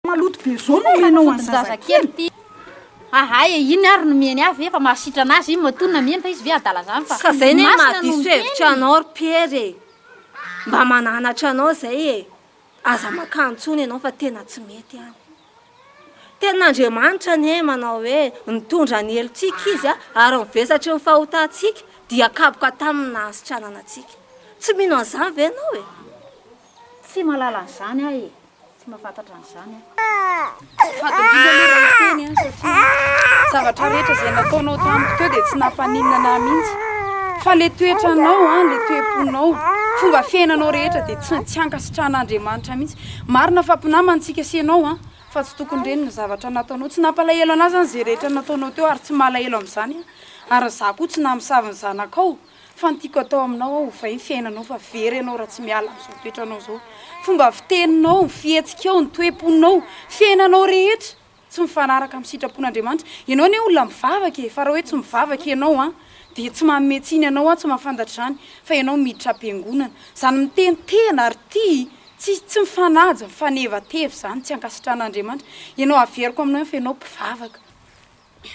Maloto be zao no omenao an'i zazakely. Ahay e, iny ary nomeny ahy ve fa mahasitrana azy iny matoa nameno fa izy ve adala zany fa Ka zay ny anie masina no mahadiso miteny. hevitra anao ry Pierre e. Mba mananatra anao zay e. Aza makany intsony ianao fa tena tsy mety ihany. Tenin'Andriamanitra anie manao hoe nitondra ny helotsika izy ary ny vesatry ny fahotantsika dia kapoka tamin'ny nahasitranana antsika. Tsy mino an'izany ve ianao e? Tsy mahalala an'izany aho e! Tsy mahafantatra an'izany aho. Tsy fahadiovana aloha raha hiteny an, satria ny zavatra rehetra izay nataonao tamiko teo dia tsy nampaninona an'ahy mihitsy. Fa ilay toetranao an, ilay toe-ponao, fomba fiainanao rehetra dia tsy tsy ankasitrahan'Andriamanitra mihitsy. Marina fa mpinamana isika sy ianao an, fa tsy tokony ireny ny zavatra nataonao. Tsy nampalahelo an'ahy izany izay rehetra nataonao teo ary tsy malahelo amin'izany aho, ary izaho koa tsy namosavy ny zanakao. Fa ny tiako atao aminao aho ovay ny fiainanao fa very ianao raha tsy miala amin'izao toetranao izao. Fomba fiteninao, ny fihetsikao, ny toe-ponao, fiainanao rehetra tsy mifanaraka amin'ny sitrapon'Andriamanitra. Ianao anie olona mivavaka e, fa raha hoe tsy mivavaka ianao an, dia tsy manome tsiny anao aho tsy mahafantatra izany fa ianao miditra am-piangonana. Izany miteny tena ary tia tsy tsy mifanaja, mifanevateva izany tsy ankasitrahan'Andriamanitra. Ianao averiko aminao ihany fa ianao mpivavaka.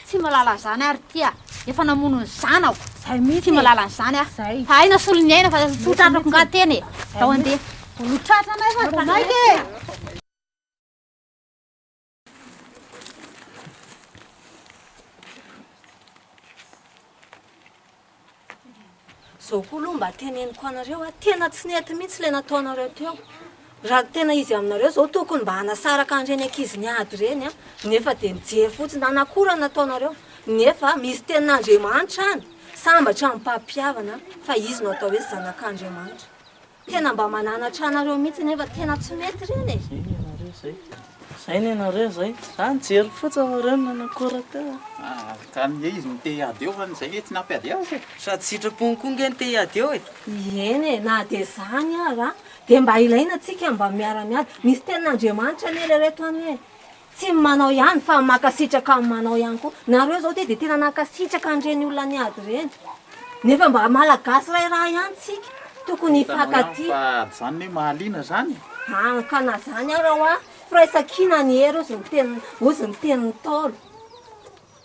Tsy malala an'izany aho ry tia, efa namono ny zanako, tsy malala an'izany aho, fa hay nasolo ny aina fa tsy ho tratrako nga tena e, zao andeha. Vao notratranay fa vao maika e! Zao koa aloha mba teneniko anareo a, tena tsy nety mihitsy ilay nataonareo teo. Raha tena izy aminareo zao tokony mba hanasaraka an'ireny ankizy niady ireny a, nefa dia mijery fotsiny. Nanakora ny nataonareo, nefa misy tenin'Andriamanitra any, sambatra ny mpampihavana fa izy no atao hoe zanak'Andriamanitra. Tena mba mananatra anareo mihitsy nefa tena tsy mety ireny e! Zay ny anareo zay, zay ny anareo zay, za nijery fotsiny fa reo no nanakora teo a! Aa ka ange izy no te hiady eo fa ny zay nge tsy nampiady azy e! Sady sitrapony koa nge no te hiady eo e! Ieny e, na dia zany ara dia mba ilaina tsika mba miara miady, misy tenin'Andriamanitra anie ry reto anie e! Tsy manao ihany fa makasitraka ny manao ihany koa. Nareo zao ty de tena nankasitraka an'ireny olona niady ireny. Nefa mba malagasy ray rà ihany tsika. Tokony hifankatia. Fa ady zany ne mahaliana zany e. An ka na zany ara hoa, firaisankina ny hery ozy ny tenin'ny ozy ny tenin'ny ntaolo.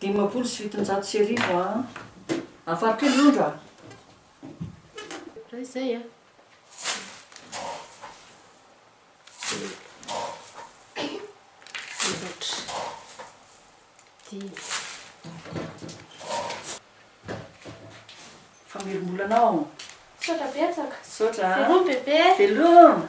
Dimampolo sy fitonjato sy arivo a! Afaro kely rondra a! Raha izay a! Efatra. Dimy. Fa mirimbola anao! Misaotra betsaka! Misaotra a! Veloma bebe! Veloma!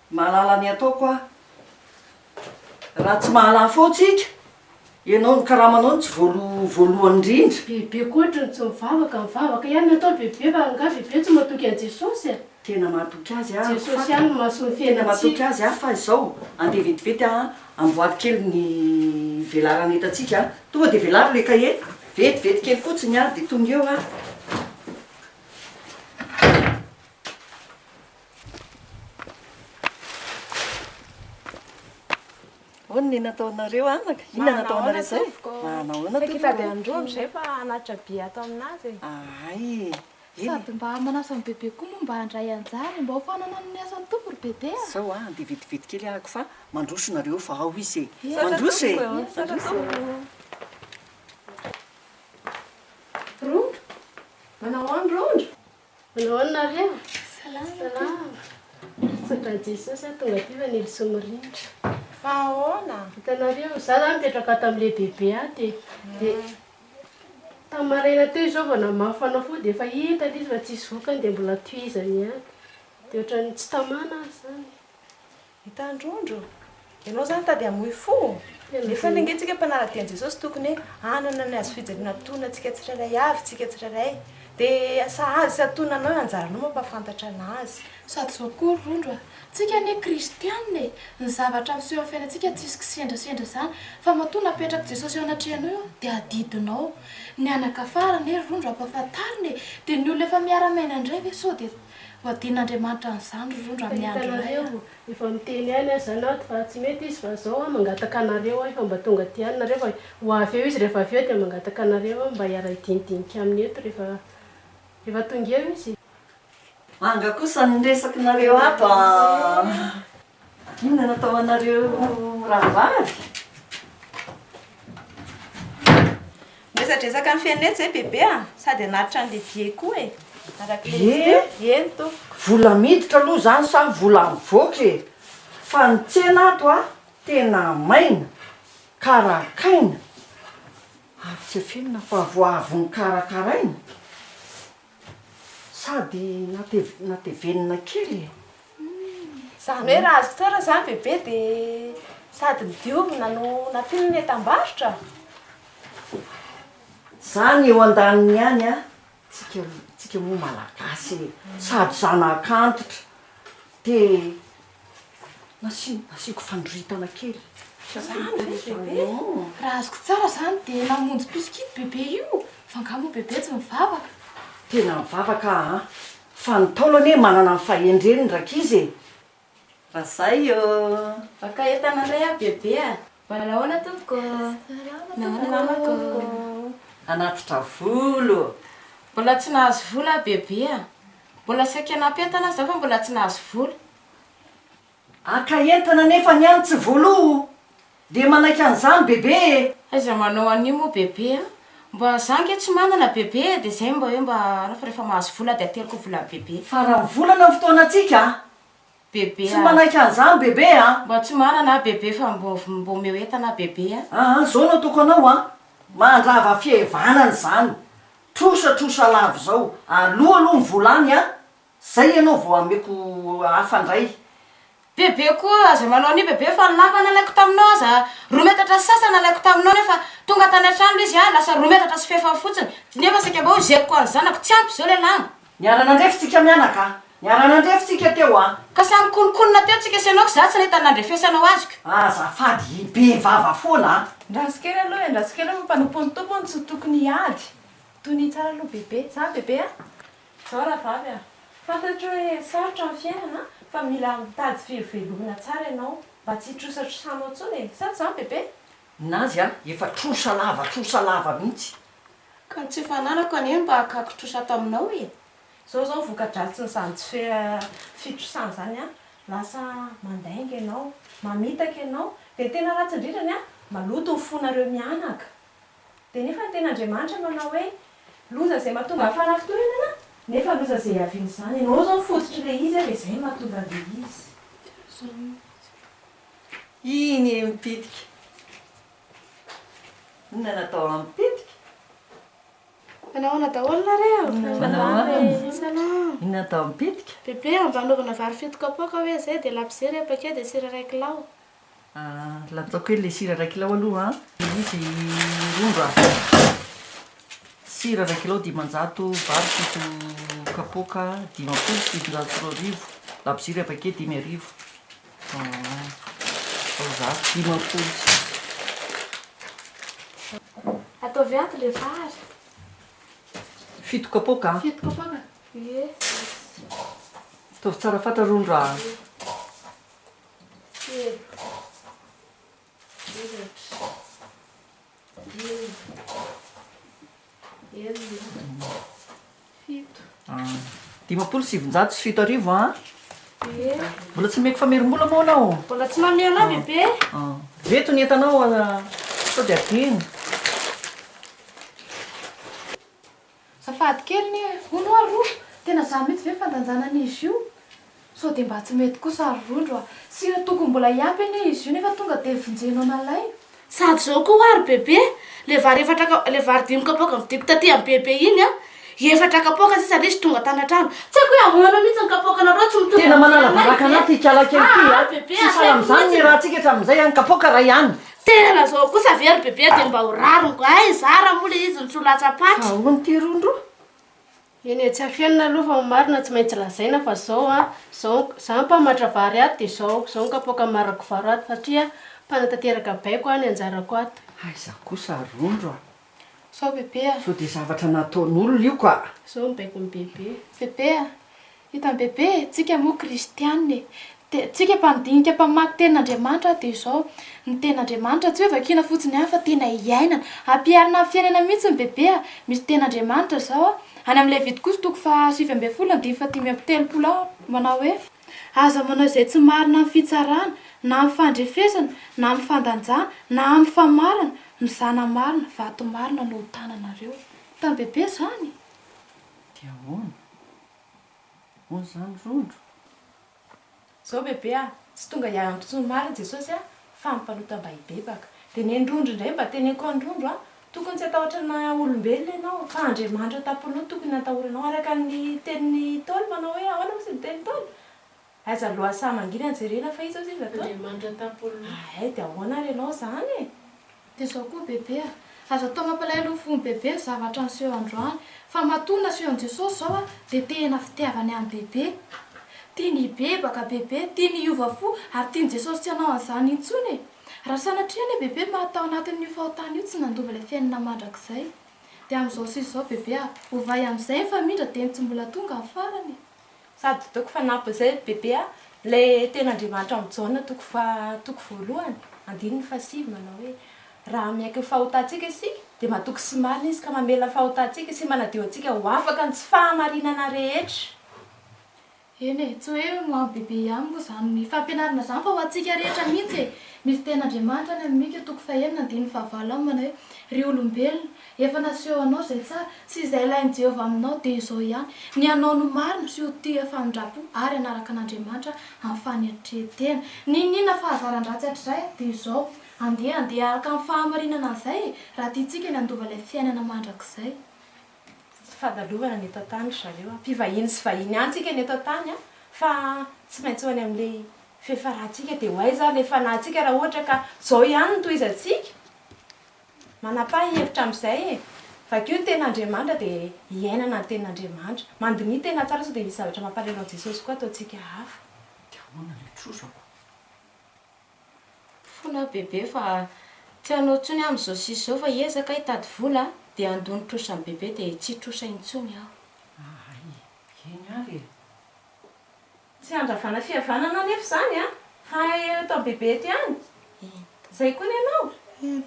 Mahalala ny ataoko aho. Raha tsy mahalala foana tsika, ianao ny karamanao no tsy voaloha voalohany indrindra. Bebe koa otriny tsy mivavaka, mivavaka ihany ny atao bebe fa angaha bebe tsy matoky an'i Jesosy a? Tena mahatoky azy aho fa. Jesosy ihany no mahasoa ny fiainantsika. Tena matoky azy aho fa izao andeha vetivety a, amboary kely ny velarana entantsika a. Tonga dia velaro ilay kahie, vetivety kely fotsiny ary dia tonga eo aho. Hono ny nataonareo anaka? Inona no nataonareo izay? Manahoana tompoko? Saika hitady an-droa amin'izay fa hanatitra be ato amin'azy e. Ahay e! Sady mba manasa an'i Bebe koa moa mba handray anjara e! Mba ho fanana amin'ny asan'ny Tompo ry Bebe a! Izao a, dia vetivety kely ahako fa mandroso nareo fa ao izy e! Mandroso e! Misaotra tompoko! Rondro? Manahoana Rondro? Manao ahoana nareo? Salama. Salama. Mitsodrano Jesosy aho tonga aty fa Nelson mirindra. Fa ahoana? Hitanareo, za zany nipetraka ato amin'ny lehibebe ato e. Dia tamin'ny maraina teo izao vao namafy fanafody dia efa hita ilay izy fa tsisy vokany dia mbola tohizany ihany. Dia ohatran'ny tsy tamana azy izany. Hitandrondro? Ianao zany tady hamoy fo? Efa ny ange tsika mpanala teny Jesosy tokony hoe hanana ny hazofijaliana antonona tsika tsirairay avy tsika tsirairay dia sahaza sy antonona anao io anjaranao mampahafantatra anazy. Sady zao koa ry rondro a! Tsika anie kristianina e! Ny zavatra miseho amin'ny fiainantsika tsisy kisendrasendra zany fa matoa napetrak'i Jesosy eo anatrehanao io dia adidinao. Ny anakafara anie ry rondro ampahafantarina e! Dia ny olona efa miara-miaina indray ve sao dia Ho adin'Andriamanitra an'izany ry rondra amin'ny andro iray aho. Efa miteny ihany aza anao ato fa tsy mety izy fa izao aho mangataka anareo aho efa mba tonga aty ihany nareo fa ho avy eo izy rehefa avy eo dia mangataka anareo aho mba hiara-hidinidinika aminy eto rehefa rehefa tonga eo izy. Manga kosa ny resaky nareo ato ah. Inona no atao anareo rahavavy? Miresadresaka ny fianetsy zay bebe a! Sady hanatitra an'le bie koa e! Arak'le Bie? Eny tompoko. Vola miditra aloha zany sa vola mivoaka e! Fa ny tsena ato a tena maina, karakaina, ary tsy afenina fa vao avy nokarakaraina. Sady natevenina kely e! Izany hoe raha azoko toerana izany bebe dia sady nodiovina no nampiana ny entam-barotra? Izany eo andaniny ihany an! Tsika tsika moa malagasy e! Sady zanak'antitra te Nasiako fandroritana kely. Raha azoko tsara izany dia namonjy pitsok'ito bebe io fa angaha moa bebe tsy mivavaka? Tena mivavaka aho an! Fa ny Ntaolo anie manana ny fahendreny ny rankizy e! Vazaha io! Vaka entana indray aho bebe a! Manahoana tompoko ô? Salama tompoko. Hanatitra volo. Mbola tsy nahazo volo aho bebe a! Mbola saika hanampy entana aho izao fa mbola tsy nahazo volo. Haka entana nefa ny any tsy volo o! Dia manaiky an'izany bebe e! Aiza manao an'io moa bebe a! Mba za ange tsy manana bebe e! Dia izay mba hoe mba anao fa rehefa mahazo volo aho dia ateliko ny volan'i bebe. Faran'ny volana ny fotoanantsika a! Bebe a. Tsy manaiky an'izany bebe a. Mba tsy manana aho bebe fa mba omeo entana aho bebe a. Aa izao no ataoko anao a, mandrava fihevanana izany, trosa trosa lava izao, aloa aloha ny vola any a, zay ianao vao ameko hafa indray. Bebe koa aza manao an'io bebe fa ny lamba nalaiko taminao aza roa metatra sy sasany nalaiko taminao nefa tonga tany an-trano ilay izy a lasa roa metatra sy fahefany fotsiny nefa saika mba hoy zeriko ho an'ny zanako tsy ampy izao ilay lamba. Niara-nandrefy tsika mianaka a! Niara-nandrefy tsika teo a! Ka samy nikonokonona teo tsika sy ianao ka za tsy nahita ny nandrefesanao azoko. Azafady i be vava foana a! Ndraso kely aloha e, ndraso kely aloha fa mpanompon'ny Tompo hono tsy tokony hiady. Tonia tsara aloha bebe. Zany bebe a! Zao rahavavy a! Fantatro hoe sarotra ny fiainana fa mila mitady fiveloana tsara ianao mba tsy hitrosatrosanao intsony e! Sa tsy zany bebe? Ninazy a! Efa trosa lava trosa lava mihitsy. Ka ny tsy efa ananako anie mba akako trosa taminao e! Izao izao voka-dratsin'izany tsy fitrosana izany an! Lasa mandainga ianao, mamitaka ianao, dia ny tena ratsy indrindra ny an! maloto ny fonareo mianaka! Dia nefa ny tena Andriamanitra manao hoe, loza izay mahatonga ny fanafintohinana, nefa loza izay hiavian'izany, ianao izao ny fototr'ilay izy an! dia izay no mahatonga an'ilay izy. Iny e! mibitika. Inona natao amiko tetika? Fa nahoana daholo nareo? Fa nahoana e? Salam. Inona natao amiko tetika? Bebe a, mba anaovana vary fito kapoaka hoe zay dia labozia ray paquet dia sira ray kilao. Ah, latsako kely le sira ray kilao aloha an. Dia izy rongà. Sira ray kilao dimanjato, vary fito kapoaka dimampolo sy fitonjato sy roa arivo, labozia ray paquet dimy arivo. Ataovy ato le vary. Fito kapoaka an. Fito kapoaka? Ie. Ataovy tsara fatra rony raha. Telo. Efatra. Dimy. Enina. Fito. Dimampolo sy sivinjato sy fito arivo a. Be. Mbola tsy meko famerim-bola moa anao. Mbola tsy mamehy anao bebe. Reto ny entanao sao dia adino. Azafady kely anie e! Hono oa ro! Tena za mihitsy ve fandanjana an'izy io? Sao dia mba tsy mety kosa ry Rondro a! Sy io tokony mbola hiampy anie izy io nefa tonga dia vonjeno an'alain! Sady zao koa oa ry Bebe, le vary efatra ka, le vary dimy kapoaka novidiko taty amin'i Bebe iny an! Efatra kapoaka sisa le izy tonga tany an-trano. Tsy haiko hoe ahoana mihitsy ny kapoakanareo tsy mitovy Tena amin'izay manala anay baraka ve? anaty ikalaky an'ity an! Tsy sahala amin'izany ny rahantsika hatramin'izay an! Kapoaka iray ihany! Tena zao kosa ve ry bebe dia mba ho rariny ay zara moa le izy ny tsy ho latsa paty. Aoa ny ty rondro. Eny e tsy afenina aloha fa ny marina tsy maintsy lazaina fa zao an, zao ny, za mpamatra vary ato dia zao, zao ny kapoaka amaragovaro ato satria mpanatanteraka baiko an ny anjarako ato. Aiza kosa rondro a! Sao bebe a! Sao dia zavatra nataon'olona io ka! Sao mibaiko an'i bebe! Bebe a! Hitan'i bebe e! Tsika moa kristianina e! Dia tsika mpandinika, mpamaky tenin'Andriamanitra dia izao, ny tenin'Andriamanitra tsy hoe vakiana fotsiny ihany fa tena iainana. Ampiharina amin'ny fiainana mihitsy ny bebe a! Misy tenin'Andriamanitra izao a! Any amin'ny Levitikosa toko faha sivy ambin'ny folo andininy fahadimy amby telopolo ao manao hoe. Aza manao izay tsy marina amin'ny fitsarana, na amin'ny fandrefesana, na amin'ny fandanjana, na amin'ny famarana, mizana marina, vato marina no ho tananareo. Hitan'i Bebe izany? Dia ahoana? Ahoana izany Rondro? Izao Bebe a, tsy tonga hiaro ny mpitsoa marina Jesosy a, fa ny mpanota mba hibebaka. Dia nen'i Rondro indray mba teneniko an'i Rondro a, Tokony tsy hatahotra ny maha olombelona ianao, fa Andriamanitra tampoloha tokony hatahoranao, araka ny tenin'i Ntaolo manao hoe ahoana moa izy niteny Ntaolo? Aiza loha saha mangina jerena fa iza ozy izy nataony? Andriamanitra tampoloha. Ahay dia ahoana ary ianao izany e? Dia izao koa bebe a! Aza atao mampalahelo ny fon'i bebe ny zavatra niseho androany, fa matoa naseho an'i Jesosy izao a, dia tena fitiavany an'i bebe. Tiany hibebaka bebe, tiany hiova fo, ary tian'i Jesosy tsy hanao an'izany intsony e! Raha sanatria ilay bebe maty tao anatin'io fahotana io tsy nandova ilay fiainana mandrakizay, dia amin'izao sy izao bebe a, ovay amin'izay ny famindra dia ny tsy mbola tonga ny farany e. Sady toko fanampiny izay bebe a, ilay tena Andriamanitra amin'i Jaona toko faha, toko voalohany, andininy fahasivy manao hoe, Raha miaiky ny fahotantsika isika, dia matoky sy marina Izy ka mamela ny fahotantsika sy manadio antsika ho afaka ny tsy fahamarinana rehetra. Eny e, tsy hoe ho an'i Bebe ihany moa izany ny fampianarana izany fa ho antsika rehetra mihitsy e! Misy tenin'Andriamanitra any amin'ny Mika toko fahenina andininy fahavalo aminy manao hoe, Ry olombelona, efa naseho anao izay tsara sy izay ilain'i Jehovah aminao, dia izao ihany, ny hanao ny marina sy ho tia famindram-po ary hanaraka an'Andriamanitra amin'ny fanetren-tena. N'inon'inona fahazaran-dratsy hatrizay, dia izao, andeha handeha araka ny fahamarinana an'izay e, raha tiantsika ny handova ilay fiainana mandrakizay. Tsy fandalovana ny eto an-tany ry zareo a! Mpivahiny sy vahiny ihany tsika ny eto an-tany a! Fa tsy maintsy ho any amin'ilay f'efa ratsika dia ho aiza ary ilay fanahintsika raha ohatra ka izao ihany no tohizantsika? Manapaha hevitra amin'izay e! Vakio ny Tenin'Andriamanitra dia iainana ny Tenin'Andriamanitra. Mandiniha tena tsara sao dia misy zavatra mampalahelo an'i Jesosy koa ataontsika hafa. Dia ahoana ilay trozako? Fona bebe fa tsy anao tsony aho amzao sisa zao fa ezaka hitady vola dia handoa ny trosan'i bebe dia tsy hitrosa intsony aho. Ahay eny ary e. Tsy handravana fihavanana anefa izany an! Fa eto amin'i Bebe eto ihany? Izay koa ny anao? Eny.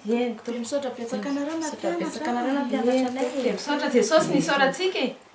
Dia misaotra betsaka anareo nampianatra an! Dia misaotra Jesosy nisaorantsika e!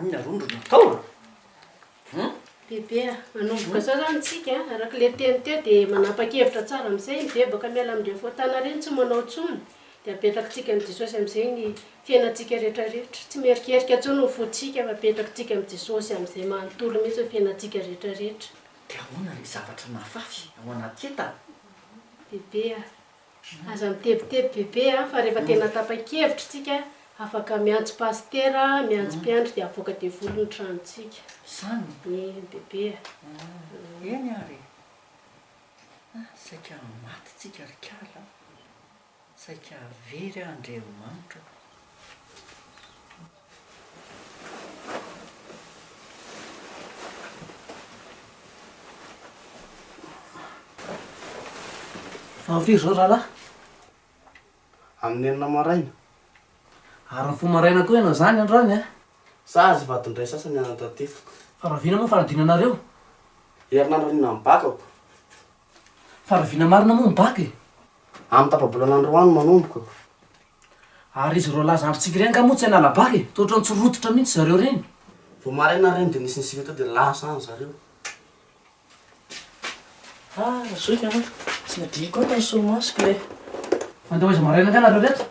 Inona roa no natao a? Hum? Bebe, manomboka izao izany tsika, araka ilay teny teo dia manapa-kevitra tsara amin'izay, mibebaka miala amin'ireo fahotana ireny, tsy manao intsony, dia apetrakintsika amin'i Jesosy amin'izay ny fiainantsika rehetra rehetra. Tsy mierikerika intsony ny fontsika fa apetrakintsika amin'i Jesosy amin'izay manontolo mihitsy ny fiainantsika rehetra rehetra. Dia ahoana ilay zavatra nafafy ao anaty entana? Bebe a, Aza mitebiteby bebe a, fa rehefa tena tapa-kevitra tsika afaka miantso pasitera, miantso mpiandry dia avoaka devoly ny tranontsika. Zany? Eny bebe a. Ah, eny ary e. Ah, saika maty tsika ry kala a. Saika very Andriamanitra o. Vao firy izao rahalahy? Amin'ny enina maraina. Ary mifoha maraina koa ianao izany androany an? Sazy vadin-dray sasany hanandratiako. Fa raha vina moa ny fanadinanareo? Herinandro anio nany bakako. Fa raha vina marina moa ny bac e? Amin'ny tapa-bolana ny roa no manomboka. Ary izy ireo laza androntsika ireny nga moa tsy hanala bac e? Toa ohatran'ny tsy rototra mihitsy zareo ireny. Vao maraina ary ireny dia nisy nisy ireto dia lasa any zareo. Ah zoky an! Tsy nadihiko ato ny solomasoko e! Fa ndeha hoaiza maraina nga nareo ireto?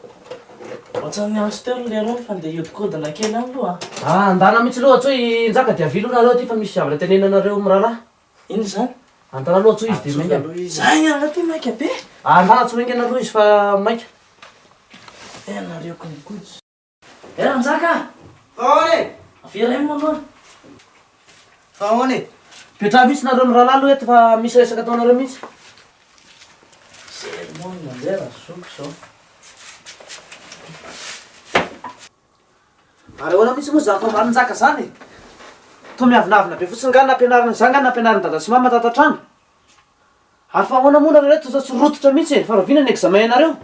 Ohatran'ny niantso teo ry Leron fa ndeha hiodikodina kely any aloha an! Ah andana mihitsy aloha, tsy hoe i Njaka dia avia aloha nareo aty fa misy zavatra tenenina anareo mirahalahy. Inona izany? Antara aloha atsoy izy dia maika. Atsoy aloha izy. Za igny angaha ty maika be? Antara atsoy haingana aloha izy fa maika. Ianareo kojakoja. Eh Ranjaka a! Fa ahoana e? Avela eo moa aloha. Fa ahoana e? Mipetraha mihitsy nareo mirahalahy aloha eto fa misy resaka ataonareo mihitsy. Zay moa no mandeha raha zoky izao. Ary ahoana mihitsy moa izany vao marinjaka izany e! Toa miavonavona be fotsiny nga ny nampianarin'ny zah nga ny nampianarin'i dada sy mama tato an-trano. Ary fa ahoana moa nareo reto toa tsy rototra mihitsy e! Fa rahoviana ny examen-nareo?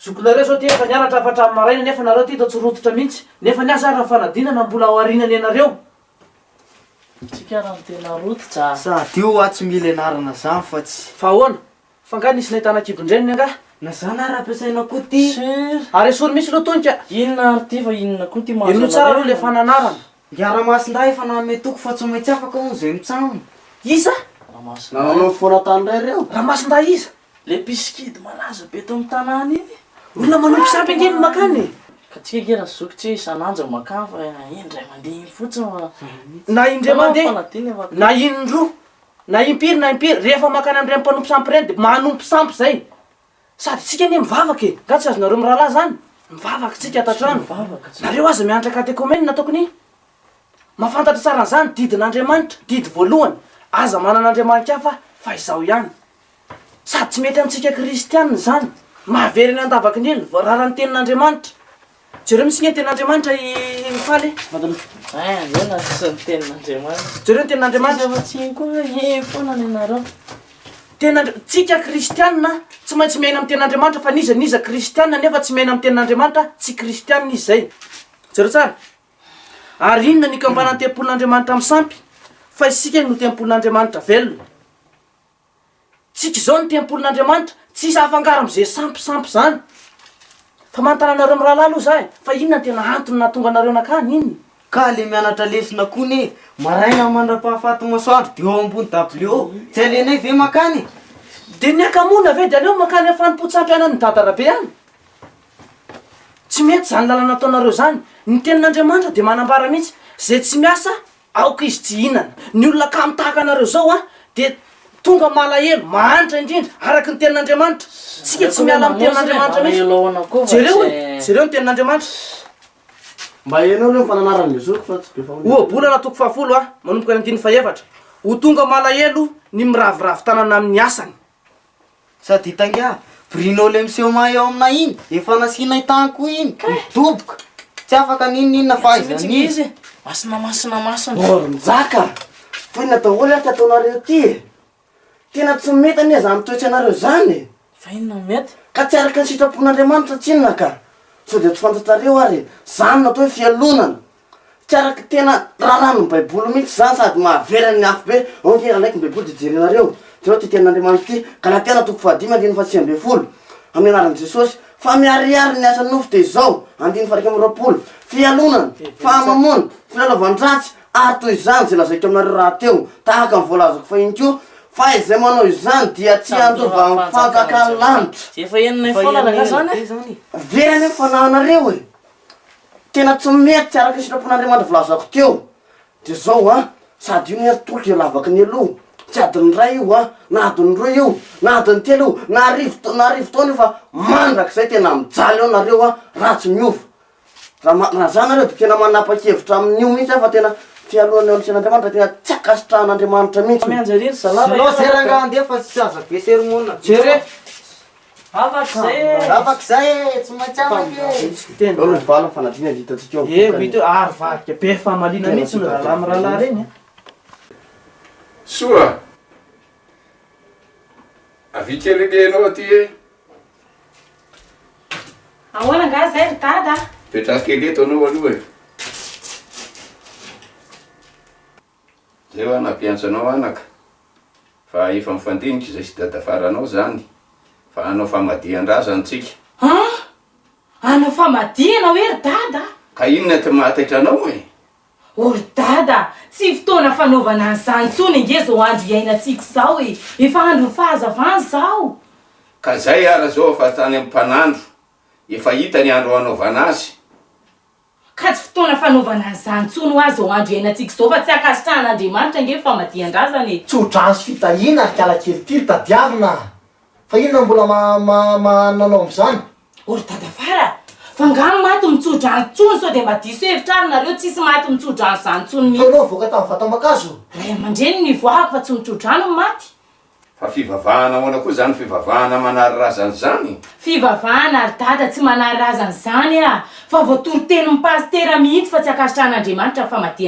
Zokinareo izao ity efa nianatra avy hatramin'ny maraina nefa nareo ity toa tsy rototra mihitsy. Nefa ny azy ary ny fanadinana mbola ao aoriana ny anareo. Tsika ary no tena rototra. Sady io hoa tsy mila ianarana izany fa tsy. Fa ahoana? Fa nga nisy nahitana kibon-dreniny angaha? Na zany ary ampiasaina koa ty. Sur. Ary esory mihitsy lo tonika. Inona ary ty fa inona koa ty mahazo anareo. Henoy tsara aloha le fananarana. Nga Ramasindahy efa nanome toky fa tsy maintsy afaka hono zay mitsam. Iza? Ramasindahy. Nanao foana tany ndray reo. Ramasindahy iza? Le mpisikidy malaza be eto am tanàna iny. Olona manompo sampy ange no makany e. Ka tsika ange ra zoky tsy hoe isan'anja makany fa indray mandeha iny fotsiny fa. Na indray mandeha na indroa. Na impiry na impiry, rehefa mankany amin'ireny mpanompo sampy ireny dia manompo sampy izay. Sady isika anie mivavaka e! Nga tsy azonareo mirahalahy izany? Mivavaka isika ato an-trano. Nareo aza miantra katekomenina ataoko ny mahafantatra tsara an'izany, didin'Andriamanitra, didy voalohany, aza manana andriamani-kafa fa izaho ihany. Sady tsy mety amintsika kristiana izany. Mahavelona ny andavaky ny ela ny voarara ny tenin'Andriamanitra. Jereo misinga ny tenin'Andriamanitra i Faly e. Vadinao. Eh, andeha na tsy ny tenin'Andriamanitra. Jereo ny tenin'Andriamanitra. Tsika tsiny koa eh foana ny anareo. Tenin'Andri- tsika kristiana tsy maintsy miaina amin'ny tenin'Andriamanitra fa n'iza n'iza kristiana nefa tsy miaina amin'ny tenin'Andriamanitra tsy kristiana izy izay. Jereo tsara. Ary inona ny ikambanan'ny tempolin'Andriamanitra amin'ny sampy? Fa isika no tempolin'Andriamanitra velona. Tsika izao ny tempolin'Andriamanitra, tsy hisy hafangaro amin'izay sampy sampy izany. Fa manontana anareo mirahalahy aloha za e, fa inona no tena antony nahatonga anareo nankany? Inona? Ka le mianatra lesona koa ne, maraina mandrapahafaty masoandro de eo ambony dabilio eo, tsy alenay ve mankany e? De ny hakamoana ve de aleo mankany amin'ny fanompoan-tsampianan'i Dadarabe any? Tsy mety izany lalana ataonareo izany. Ny tenin'Andriamanitra dia manambara mihitsy, izay tsy miasa Aoka izy tsy hihinana. Ny olona kamo tahaka anareo izao dia tonga malahelo, mahantra indrindra, araka ny Tenin'Andriamanitra. Isika tsy miala amin'ny Tenin'Andriamanitra mihitsy. Jereo e! Jereo ny Tenin'Andriamanitra. Mba henao aloha ny fananaran'i Jesosy fa tsy be fahoriana. Ohabolana toko fahafolo ha, manomboka ny andininy fahefatra, Ho tonga malahelo ny miraviravy tanana amin'ny asany. Sady ita ngia Bruno le miseho mahay ao aminay iny efa nasianay tany koa iny midoboka tsy afaka n'inon'inona fa aiza n'iza Masina masina masina. Or njaka! Foinina daholo ary ty ataonareo ty e! Tena tsy mety anie zany toetry anareo zany e! Fa inona no mety? Ka tsy araka ny sitrapon'Andriamanitra tsinona ka! Sao dia tsy fantatrareo ary zany no atao hoe fialonana! Tsy araka tena raharahan'ny baiboly mihitsy zany sady mahavery an'ny afo be, ok andraiky ny baiboly de jerenareo, jereo ty tenin'Andriamanitra ty, Galatiana toko fahadimy andininy faha sivy ambin'ny folo, amin'ny anaran'i Jesosy, fa miharihary ny asan'ny nofo dia izao, andininy faha iraika amby roapolo, fialonana, fahamamoana, filalaovan-dratsy, ary toy izany izay lazaiko aminareo rahateo, tahaka ny voalazako fahiny koa, fa izay manao izany dia tsy handova ny fanjakan'ny lanitra. Very any ny fanahinareo e. Tena tsy mety araka ny sitrapon'Andriamanitra volazako teo dia zao an, sady io ny hery tolotro dia lavaky ny aloha, tsy adin'ny iray io an, na adin'ny roa io, na adin'ny telo io, na arivo na arivo taona io fa mandrakizay tena mijaly eo nareo an, raha tsy miova. Raha ma- raha zany nareo dia tena manapa-kevitra amin'io mihitsy aho fa tena fialonana eo amin'ny sain'Andriamanitra tena tsy ankasitrahan'Andriamanitra mihitsy. Mianjera ery zalahy raha ela. Zao zay rangahy andeha fa tsy aza be sermona. Jereo. Afaka izay e! Tsy maintsy afaka e! Eo ny vala fanadriana ny hitantsika eo amin'ny vokany. Eo, ary varika be famaliana mihitsy ny rahalahy mirahalahy ireny a! Soa! Avia kely ange ianao aty e! Ahoana angaha izay ry dada a? Mipetraha kely eto ianao aloha e! Zay hoa nampiantso anao anaka fa efa mifandinika izay sy dada faranao zany fa hanao famadihan-drazany tsika. An! Hanao famadihana hoe ry dada? Ka inona ty mahataitra anao e? Oh ry dada, tsy fotoana fanaovana an'izany intsony ange zao andro iainantsika zao e! Efa andron'ny fahazavana zao! Ka zay ara zao fa tany am-panandro efa hita ny andro hanaovana azy. Ka tsy fotoana fanaovana an'izany intsony ho'a izao andro iainantsika izao fa tsy ankasitrahan'Andriamanitra ange ny famadihan-drazana e! Tso-drano sy fitahiana ry kiala kelikely, tadiavina a! Fa inona no mbola maha-maha-maha nanao amin'izany? O ry dadafara a! Fa angaha ny maty mitso-drano intsony sao dia mba diso hevitra ary nareo, tsisy maty mitso-drano izany intsony Fa ianao mihitsy. nivoaka tamin'ny vata-mankazo? Ray aman-dreniny nivoahako fa tsy mitso-drano ny maty. Fa fivavahana ahoana koa izany fivavahana manary razana izany? Fivavahana ry dada tsy manary razana izany ah! Fa voatoriteny ny pasitera mihitsy fa tsy ankasitrahan'Andriamanitra ny famadihana.